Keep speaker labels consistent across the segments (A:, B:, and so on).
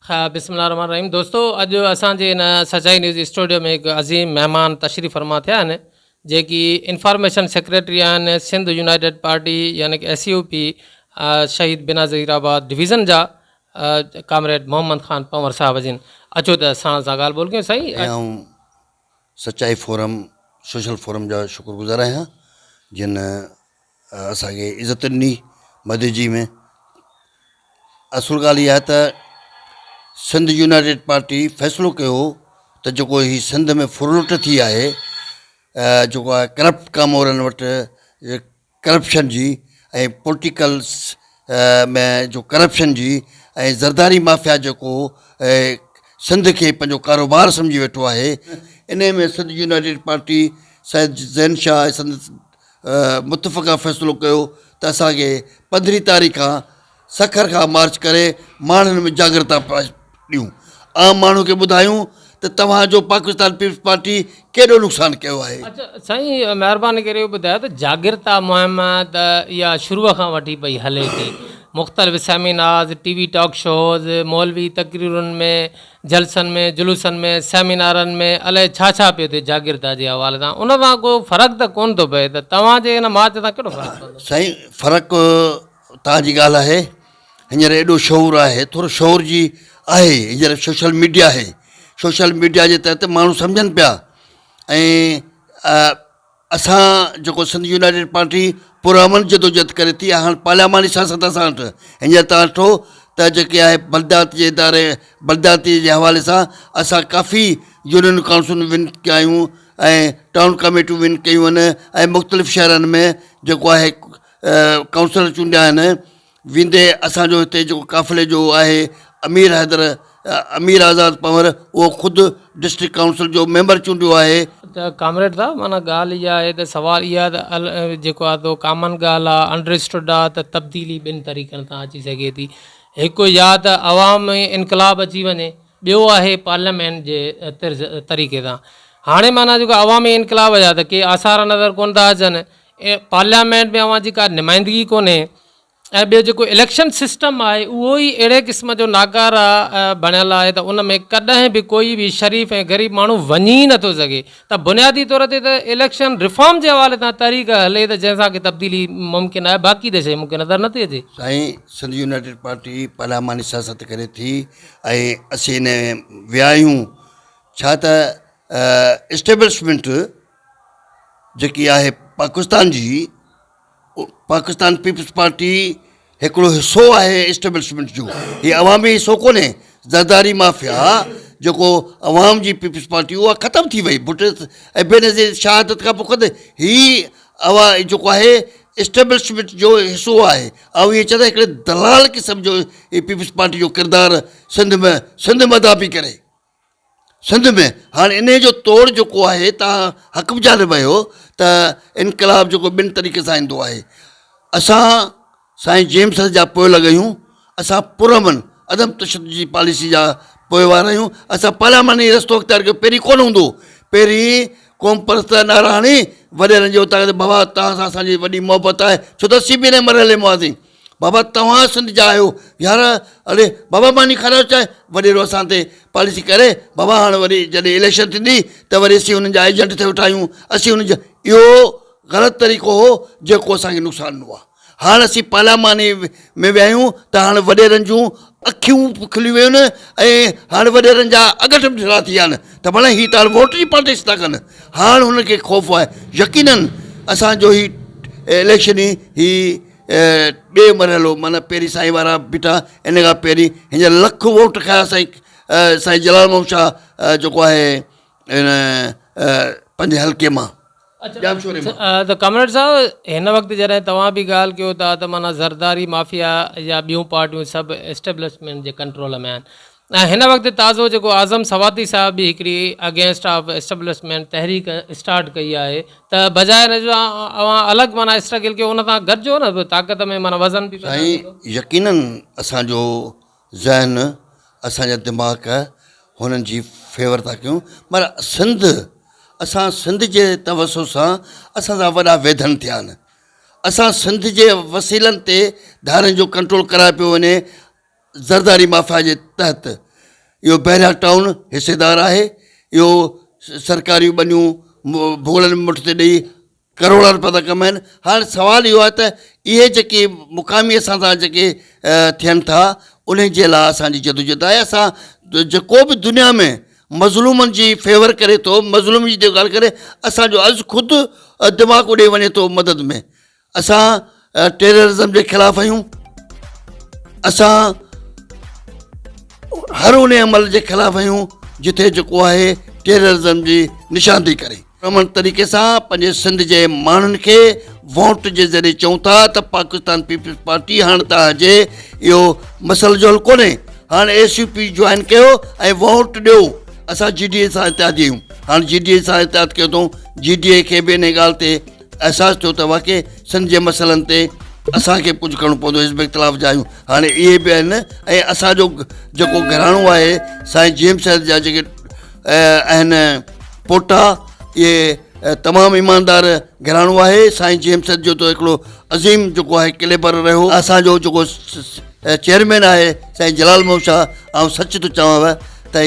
A: بسم الله الرحمٰن الرحيم دوستو اڄ اسان جي ان سچائي نيوز اسٽوڊيو ۾ هڪ عظيم مهمان تشريف فرما ٿيا آهن جيڪي انفارميشن سيڪريٽري آهن سنڌ يونائيٽيڊ پارٽي يعني ڪه S U P Shaheed Benazirabad division جا ڪامريڊ محمد خان پنور صاحب جن اچو ته ساڻ سان ڳالهه ٻولهه ڪيون سائين
B: سچائي فورم سوشل فورم جا شڪر گذار آهيان جن اسان کي عزت ڏني مدي جي ۾ اصل ڳالهه اها آهي ته سنڌ يونائيٽيڊ پارٽي فيصلو ڪيو هو ته جيڪو هي سنڌ ۾ ڦرلٽ ٿي آهي جيڪو آهي ڪرپٽ ڪامورن وٽ ڪرپشن جي ۽ پولٽيڪلس ۾ جو ڪرپشن جي ۽ زرداري مافيا جيڪو سنڌ کي پنهنجو ڪاروبار سمجهي ويٺو آهي انهي ۾ سنڌ يونائيٽيڊ پارٽي سيد زين شاهه سندس متفقا فيصلو ڪيو ته اسان کي پندرهين تاريخ کان سکر کان مارچ ڪري ماڻهن ۾ جاڳرتا ڏيون عام ماڻهن کي ٻڌايون ته توهان جو پاڪستان پيپلز پارٽي ڪيڏو نقصان ڪيو آهي. اچا سائين
A: مهرباني ڪري اهو ٻڌايو ته جاڳرتا مهم ته اها شروع کان وٺي پئي هلي ٿي مختلف seminars T V talk shows مولوي تقريرن ۾ جلسن ۾ جلوسن ۾ سيمينارن ۾ الائي ڇا ڇا پيو ٿئي جاگيردار جي حوالي سان ان سان ڪو فرق ته ڪون ٿو پئي ته توهان جي ان مارچ سان ڪهڙو فرق پوندو. سائين فرق
B: توهان جي ڳالهه آهي هينئر ايڏو شعور آهي ٿورو شعور جي آهي هينئر سوشل ميڊيا آهي سوشل ميڊيا جي تحت ماڻهو سمجهن پيا ۽ اسان جيڪو سنڌ يونائيٽيڊ پارٽي پرامن جدوجھد ڪري ٿي هاڻ پارلياماني سياست اسان وٽ هينئر توهان ڏٺو ته جيڪي آهي بلديات جي اداري بلدياتي جي حوالي سان اسان ڪافي يونين ڪائونسلون ون ڪيا آهيون ۽ ٽائون ڪاميٽيون ون ڪيون آهن ۽ مختلف شهرن ۾ جيڪو آهي ڪائونسلر چونڊيا آهن ويندي اسان جو هتي جيڪو قافلي جو آهي امير حيدر امير آزاد پنور اهو خود ڊسٽرڪٽ ڪائونسل جو ميمبر چونڊيو آهي. ته ڪامريڊ صاحب
A: معنيٰ ڳالهه اها آهي ته سوال اها ته ال جيڪو آهي تو ڪامن ڳالهه آهي انڊرسٽوڊ آهي ته تبديلي ٻن طريقن سان اچي سگهي ٿي هڪ يا ته عوام ۾ انقلاب اچي وڃي ٻيو آهي پارليامينٽ جي طرز طريقي سان هاڻي معنيٰ جيڪو عوامي انقلاب جا ته ڪي آثار نظر ڪونه ٿا اچن پارليامينٽ ۾ اوهان جي ڪا نمائندگي ڪونهي ۽ ٻيو جيڪو اليڪشن سسٽم آهي اهو ئي اهڙي قسم جو ناڪاره بڻيل آهي ته ان ۾ ڪڏهن به ڪوئي به شريف ۽ غريب ماڻهو وڃي ئي نٿو سگهي ته بنيادي طور تي ته اليڪشن ريفارم جي حوالي سان تحريڪ هلي ته جنهن سان ڪي تبديلي ممڪن آهي باقي ته شيء مون کي نظر نٿي اچي. سائين سنڌ
B: يونائيٽيڊ پارٽي پارلياماني سياست ڪري ٿي ۽ اسين ان ۾ ويا آهيون ڇا ته اسٽيبلشمينٽ جيڪي آهي پاڪستان جي پاڪستان پيپلز پارٽي هڪڙو حصو آهي اسٽيبلشمينٽ جو هي عوامي حصو ڪونهي زرداري مافيا جيڪو عوام جي پيپلز پارٽي اها ختم ٿي وئي بٽ ۽ بي نظير شهادت کان پوء خود هي اوا جيڪو آهي اسٽيبلشمينٽ جو حصو آهي آئون ائين چوان ٿو هڪڙي دلال قسم جو هي پيپلز پارٽي جو ڪردار سنڌ ۾ سنڌ مداح پئي ڪري سنڌ ۾ هاڻ انهيء جو توڙ جيڪو آهي تان حق به جانب اهو ته انقلاب جيڪو ٻن طريقي سان ايندو آهي اسان سائين جيمس جا پوئلڳ اهيون اسان پرامن عدم تشدد جي پاليسي جا پوئوار اهيون اسان پارلياماني رستو اختيار ڪيو پهرين ڪونه هوندو هو پهرين قوم پرست ناراڻي وڏيرن جي اتاق تي بابا توهان سان اسان جي وڏي محبت آهي ڇو ته اسين به انهيء مرحلي مان هئاسين بابا توهان سنڌ جا آهيو يار اڙي بابا ماني کارائو چانهه وڏيرو اسان تي پاليسي ڪري بابا هاڻ وري جڏهن اليڪشن ٿيندي ته وري اسين انهن جا ايجنٽ ٿيو ٺاهيون اسين انهن جا اهو غلط طريقو هو جيڪو اسان کي نقصان ڏنو آهي هاڻ اسين پارلياماني ۾ ويا آهيون ته هاڻ وڏيرن جون اکيون به کلي ويون آهن ۽ هاڻ وڏيرن جا اڳٺ به ڍرا ٿي ويا آهن ته ڀلا هي ته هاڻ ووٽ جي پالٽڪس ٿا ڪن هاڻ هنن کي خوف آهي يقينن اسان جو هي اليڪشن هي ٻي مرحلو معنيٰ پهرين سائين وارا بيٺا ان کان پهرين هينئر لک ووٽ کنيا سائين سائين جلال محمد شاهه جيڪو آهي ان پنهنجي حلقي مان ڄامشوري مان.
A: ته ڪامريڊ صاحب هن وقت جڏهن توهان به ڳالهه ڪيو ٿا ته معنيٰ زرداري مافيا يا ٻيون پارٽيون سڀ اسٽيبلشمينٽ جي ڪنٽرول ۾ آهن ۽ هن وقت تازو جيڪو اعظم سواتي صاحب به هڪڙي اگينسٽ آف اسٽبلشمينٽ تحريڪ اسٽارٽ ڪئي آهي ته بجاء ان جو اوهان الڳ معنيٰ اسٽرگل ڪيو ان سان گڏجو نه طاقت ۾ معنيٰ وزن به پيدا ٿيندو. سائين يقيناً
B: اسان جو ذهن اسان جا دماغ هنن جي فيور ٿا ڪيون مگر سنڌ اسان سنڌ جي توسط سان اسان سان وڏا ويڌن ٿيا آهن اسان سنڌ جي وسيلن تي ڌارين جو ڪنٽرول ڪرايو پيو وڃي زرداري مافيا جي تحت اهو بحريا ٽائون حصيدار آهي، اهو سرڪاريون ٻنيون ڀوڳڙن مٺ تي ڏئي ڪروڙا روپيا ٿا ڪمائين، هاڻ سوال اهو آهي ته اهي جيڪي مقامي اسان سان جيڪي ٿين ٿا انهن جي لا اسان جي جدوجهد آهي، اسان جيڪو به دنيا ۾ مظلومن جي فيور ڪري ٿو، مظلوم جي ڳالهه ڪري اسان جو عرض خود دماغ اڏي وڃي ٿو مدد ۾. اسان ٽيررازم جي خلاف آهيون اسان هر ان عمل جي خلاف آهيون جتي جيڪو آهي ٽيررازم جي نشاندهي ڪري امن طريقي سان پنهنجي سنڌ جي ماڻهن کي ووٽ جي ذريعي چون ٿا ته پاڪستان پيپلز پارٽي هاڻ تان جي اهو مسئلو جو حل ڪونهي هاڻ ايس يو پي جوائن ڪيو ۽ ووٽ ڏيو اسان جي ڊي اي سان اتحادي آهيون هاڻ جي ڊي اي سان اتحاد ڪيو اٿو جي ڊي اي کي به ان ڳالهه تي احساس ٿيو ته واقعي سنڌ جي مسئلن تي اسان کي به ڪجهه ڪرڻو پوندو حزب اختلاف جا آهيون هاڻي اهي به آهن ۽ اسان جو جيڪو گهراڻو آهي سائين جي ايم سيد جا جيڪي آهن پوٽا اهي تمام ايماندار گهراڻو آهي سائين جي ايم سيد جو ته هڪڙو عظيم جيڪو آهي ڪليبر رهيو اسان جو جيڪو چيئرمين آهي سائين جلال محمد شاهه آئون سچ ٿو چوانو ته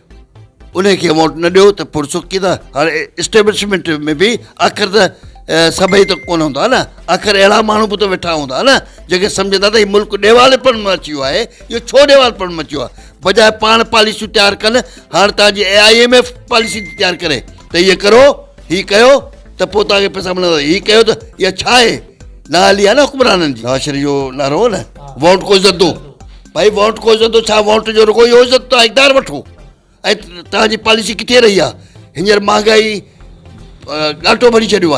B: انهي کي ووٽ نه ڏيو ته پرسخ ڪي ته هاڻي اسٽيبلشمينٽ ۾ به آخر ته سڀئي ته ڪونه هوندا نه آخر اهڙا ماڻهو به ته ويٺا هوندا نه جيڪي سمجهندا ته هي ملڪ ڏيوال پڻ ۾ اچي ويو آهي اهو ڇو ڏيوال پڻ ۾ اچي ويو آهي بجاء پاڻ پاليسيون تيار ڪن هاڻي تان جي اي آء ايم ايف پاليسي ٿي تيار ڪري ته هي ڪرو هي ڪيو ته پوء تان کي پيسا ملندا هي ڪيو ته اها ڇا آهي نااهلي آهي نه حڪمرانن جي نواز شريف جو نعرو هو نه ووٽ ڪو زدو ڀائي ووٽ ڪو عزت ڇا ووٽ جو رڳو اهو عزت توهان اقدار وٺو ۽ توهان جي پاليسي ڪٿي رهي آهي هينئر مهانگائي ڳاٽو ڀري ڇڏيو آهي